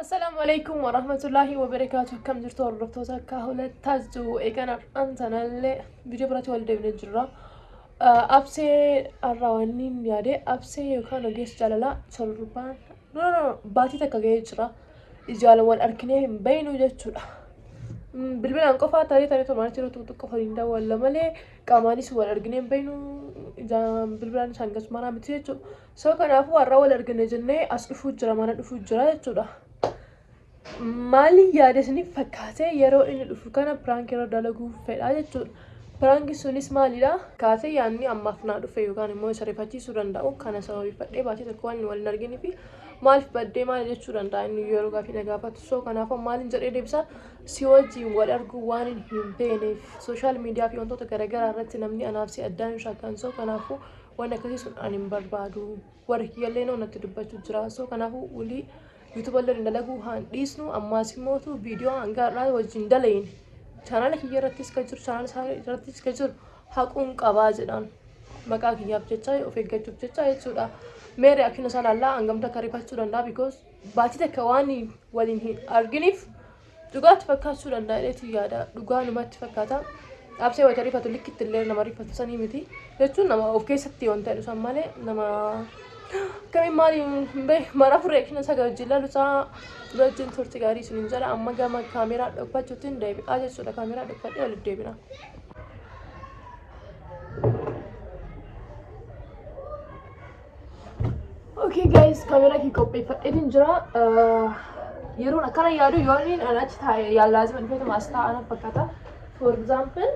Assalaamu alaikum wa rahmatullahi wa barakaatu akkam jirtu hordoftoota akka hulataa jirtu eegan har'aan sanallee viidiyoo biratti wal deebine jirra. Absee har'aa waan hin yaade absee yookaan ogeessa jaalalaa torbaan no no baatii takka ga'ee jira. Ijaan wal arginee hin beeknu jechuudha. Bilbilaan qofaa tarii tarii tomaan jiru tuutu qofa hin daawwalla malee qaamaanis wal arginee hin beeknu ijaan bilbilaan isaan gasumaraa miti jechuudha. So kanaafuu har'a wal argine jennee as dhufuu jira mana dhufuu jira jechuudha. Maaliin yaada isiniif fakkaatee yeroo inni dhufu kana piraank irra dalaguu fedha jechuudha. Piraanki sunis maalidha? Kaatee yaadni ammaaf naa dhufe yookaan immoo isa rifachiisuu danda'u kana sababeeffadhee baatee tokko waan wal hin argine fi maaliif baddee maal jechuu danda'a inni yeroo gaafii na gaafatu soo kanaaf maaliin jedhee deebisa si wajjin wal arguu waan hin beeneef sooshaal miidiyaa fi wantoota garaagaraa irratti namni anaaf si addaan hin shaakkan soo kanaafuu Waan akkasii sun ani hin barbaadu. Warri kiyyallee noo natti dubbachuu jira. So kanaafuu wulii yuutuba illee dalaguu haan dhiisnu ammaas immootu viidiyoo hanga har'aa wajjin dalayin. Chaanaala kiyya irrattis kan jiru chaanaala isaa irrattis kan jiru haquun qabaa jedhaan. Maqaa kiyyaaf jecha of eeggachuuf jecha jechuudha. Mee reaction isaa laallaa hangamta akka rifachuu danda'a because baatii takka waan waliin hin arginiif Dhugaatti fakkaachuu danda'a jedheetu yaada. Dhugaa numatti fakkaata. Dhaabsee wayita rifatu likkitti illee nama rifatu sanii miti. Jechuun nama of keessatti waan ta'e dhusan malee nama akkamiin maali hin beeku. Mara furee kina saga wajjin lalusaa dura wajjin turti gaarii isin hin jedha. Amma gama kaameeraa dhokfachuutiin deebi'aa jechuudha. Kaameeraa dhokfadhee walitti deebina. Okay guys, kamera kee qopheeffadheetiin jira. Yeroon akkana yaadu yoo inni an achi taa'e yaalaazima dhufeetuma as taa'an fakkaata. For example,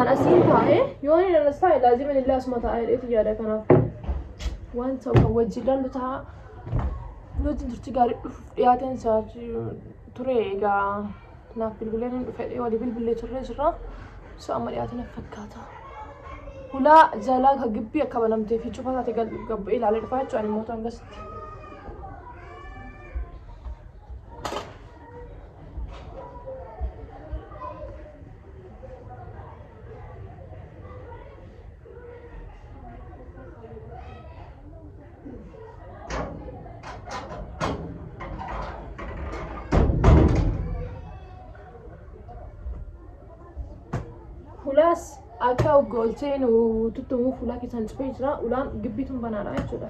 an asiin taa'e yoo inni an as taa'e laazima inni illee asuma taa'e dheetu yaada kanaaf. Waan ta'u kan wajjin lallu ta'a. Nuti turtii gaarii dhufuuf dhiyaateen isaa ture egaa. Naaf bilbilee nan dhufe jedhee walii bilbilee turree jirra. So amma dhiyaate natti fakkaata. Hulaa jalaa ka gibbii akka banamtee fi cufa taate gal gabba'ee ilaalee dhufaa jechuudha ani mootu hangasitti. Hulaas akka goolchee nu tuttumu fuula keessaan cufee jira. Ulaan gibbiituun banaadha jechuudha.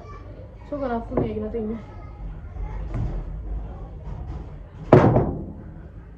So kanaaf fuula eegna teenya.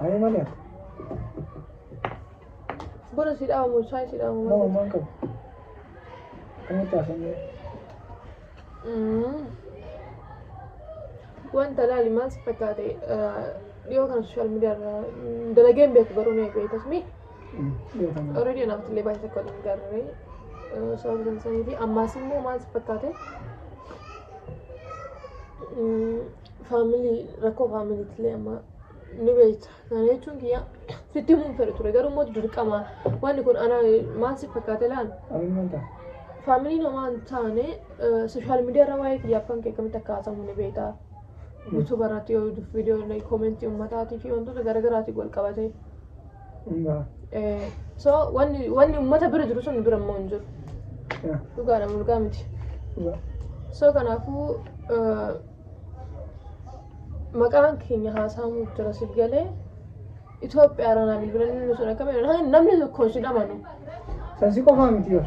Ani mali ati. Bora si dhaamu saay si dhaamu. Nama maan qabu. Akkamitti haasofnee? Mm. Wanta laali maal si fakkaate eh, dhiyoo kana sooshaal miidiyaa irraa mm, dalageen beeku garuu mee beekas mee Dhiyeeffama. already anaaf illee baay'ee tokko hin garre sababa danda'anii fi ammaas immoo maal si fakkaate Mm, family rakkoo family tillee amma ni beekta kana jechuun kiyya sitti himuun fedhe ture garuu immoo dirqama wanni kun ana maal si fakkaate laan family namaa hin taane social media irra waa'ee kiyyaaf kan kee akkamitti akka haasamu ni beekta youtube irratti yoo viidiyoo koomentii uummataatii fi wantoota garaagaraatiif wal qabatee Egaa. Eh, so wanni wanni uummata bira jiru sun nu bira immoo hin jiru Yaa. dhugaadha mulqaa miti Dhugaa. so kanaafuu eh, maqaan keenya haasa'amuu jira siif galee Itoophiyaa irraa naaf bilbilanii nu sun akkamiin namni tokko hin amanu Sansi qofaa miti bar.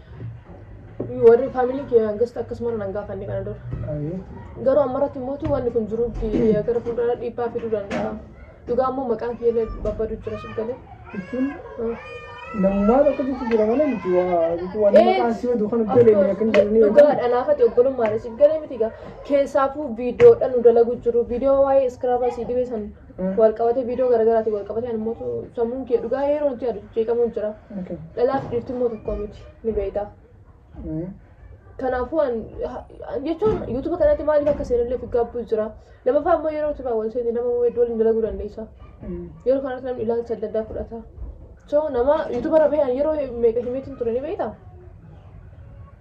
Warri faamilii kee hangasta akkasuma nan gaafanne kana dura. Ayi. Garuu ammarratti immoo wanni kun jiruuf gara fuuldura dhiibbaa fiduu danda'a. Dhugaa immoo maqaan kee illee babbadu jira sif galee. Jechuun namummaa tokko jechuun jira malee miti waa jechuun waan nama kaasii oduu kan hojjete illee akka hin jirne Dhugaa dhanaafati obbolummaan sif galee miti gaa. Keessaafuu viidiyoodhaan nu dalagu jiru. Viidiyoo waa'ee iskiraabaa sii dhibee san Walqabatee viidiyoo garaagaraatiin walqabatee ani immoo sammuun kee dhugaa yeroo nuti yaadu jeeqamuun jira. Okay. Dhalaaf dhiirti immoo tokko miti ni beektaa. Mm. Kanaafuu an ha- an jechuun yuutuba kanatti maaliif akka seenallee fi gaabbuu jira. Lammaffaa immoo yeroo turaa wal seente nama immoo iddoo waliin dalaguu dandeessa. Mm. Yeroo kanatti namni ilaalcha adda addaa fudhata. So nama yuutuba irra bahe an yeroo meeqa himeetiin ture ni beektaa?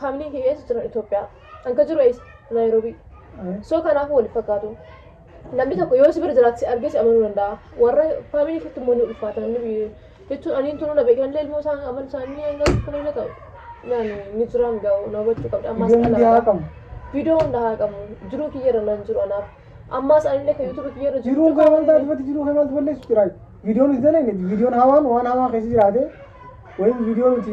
Faamiliin kiyya eessa jiran Itoophiyaa. An ka jiru eessa? Naayiroobii. So kanaafuu waliif fakkaatu. Namni tokko yoo si bira jiraate si argee si amanuu danda'a. Warra faamilii keetti immoo ni ulfaata namni biyya jechuun aniin tunuu na beekan illee ilmoo isaan amal isaanii hanga akka fayyada ta'u. Yaani ni jiraan ga'u na hubachuu qabda ammaas Ijoolleen dhalaa. biyaa qabu. Viidiyoo hunda haa qabu. Jiruu kiyya irra nan jiru anaaf. Ammaas anillee kan yuutuubii kiyya irra Jiruun kee maal taate fati jiruu kee maaltu balleessu jira. Viidiyoon hin dalagne viidiyoon hawaan waan hawaa keessa jiraate wayim viidiyoo nuti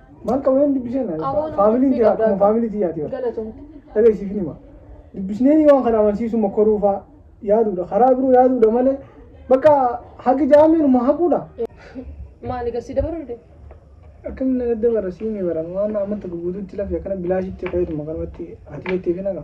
Maal qaba yoon dubbisee na Amoon faamiliin dubbii jira qabdaa akkuma faamilii tiyyaati bara. Galatoom. Dhagaa isiif hima. Dubbisnee waan kana amansiisu mokkoruu fa'aa yaaduudha. Karaa biroo yaaduudha malee bakka haqi jaameen uma haquudha. Maali gasii dabaruu dide? Akkamiin na dadda bara siinii bara waan ammatti guguututti lafi akkana bilaashitti fayyaduma kanumatti ati jettee fi nagaa.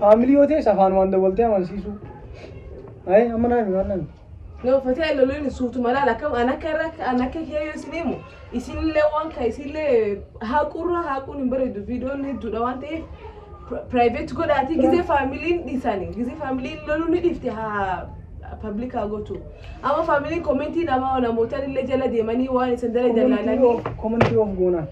Faamilii yoo ta'es afaanumaan dawwaltee amansiisuu. Ayi amma naa himi waan naan. Yoo fatee loluun suutuma laal akkam an akka irra an akka kee yoo isin himu isinillee waan ka isinillee haaquurra haaquun hin bareedu viidiyoon hedduudha waan ta'eef piraayiveet godhaatii gizee faamiliin dhiisanii gizee faamiliin loluu ni dhiifte haa pabliik haa gootu amma faamiliin koomentii namaa namootan illee jala deemanii waan isin dala jalaalanii Komantii of goonaa.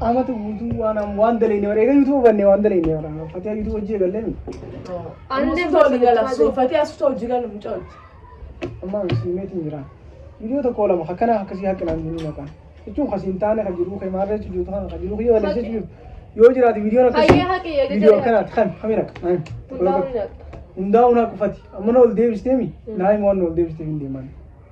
Amatu guutuu waan am- waan daleenne bara eega yuutuuba banne waan daleenne bara fatiyaa yuutuuba hojii eegallee mi Anne sote gala so fate asu to jigal mchol. amma siimeetiin jira viidiyoo tokko lama akkana akkasii haqqinaan jiru maqaan jechuun kasiin taane kan jiruu kee maarree jechuun jirtu kana kan jiruu kee waliin jechuun jirtu yoo jiraate viidiyoon Hayyee akkasii haqi eega viidiyoo jira. akkanaati kan kami raqa Hundaa'uun haqi. hundaa'uun haqufati amma na ol deebistee mi daa'ima waan na ol deebistee hin deeman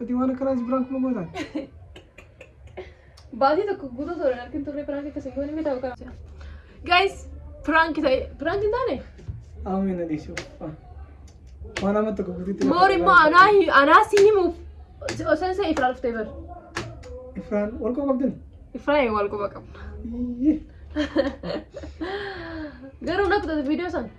Ati waan akkanaa si biraan kuma gootaan. Baatii tokko guutuu toora harkin turre piraanki akkasii goone miidhaa ogaa. Guys, piraanki ta'e, piraanki hin taane? Amma na dhiisu. Waan amma tokko guututti. Moor immoo anaa hi- anaa si himuuf osoo isa ifraa dhuftee bar. Ifraan wal qaba qabdin. Ifraa wal quba qabna. Iyyii. Garuu na kutata viidiyoo sana.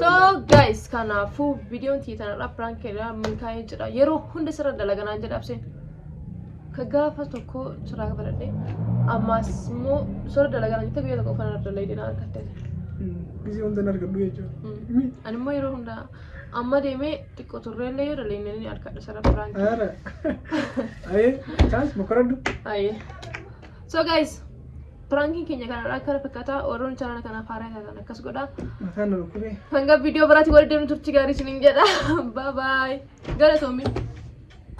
So guys kanaafuu viidiyoon tiyya tanarraa piraank irraa milkaa'ee jira. Yeroo hunda sirra dalaganaan jedha abseen. Ka gaafa tokko sirraa baradhee ammaas immoo sirra dalaganaan jette guyyaa tokko uffanna dalaydee na argatte. Gisee hunda hin argadhu jechuudha. Mi? Ani immoo yeroo hunda amma deemee xiqqoo turreellee yoo dalaynee ni argadha sirra piraank. Ara. Ayee. Kaas mokoradhu. Aye. So guys Prankiin keenya kanarraa akka kana fakkaataa warroonni chaanala kanaaf haaraa taatan akkas godha. Mataan na dhukkubee. Hanga viidiyoo biraatti walitti deemnu turtii gaarii isiniin jedha. Bye bye. Galatoomi.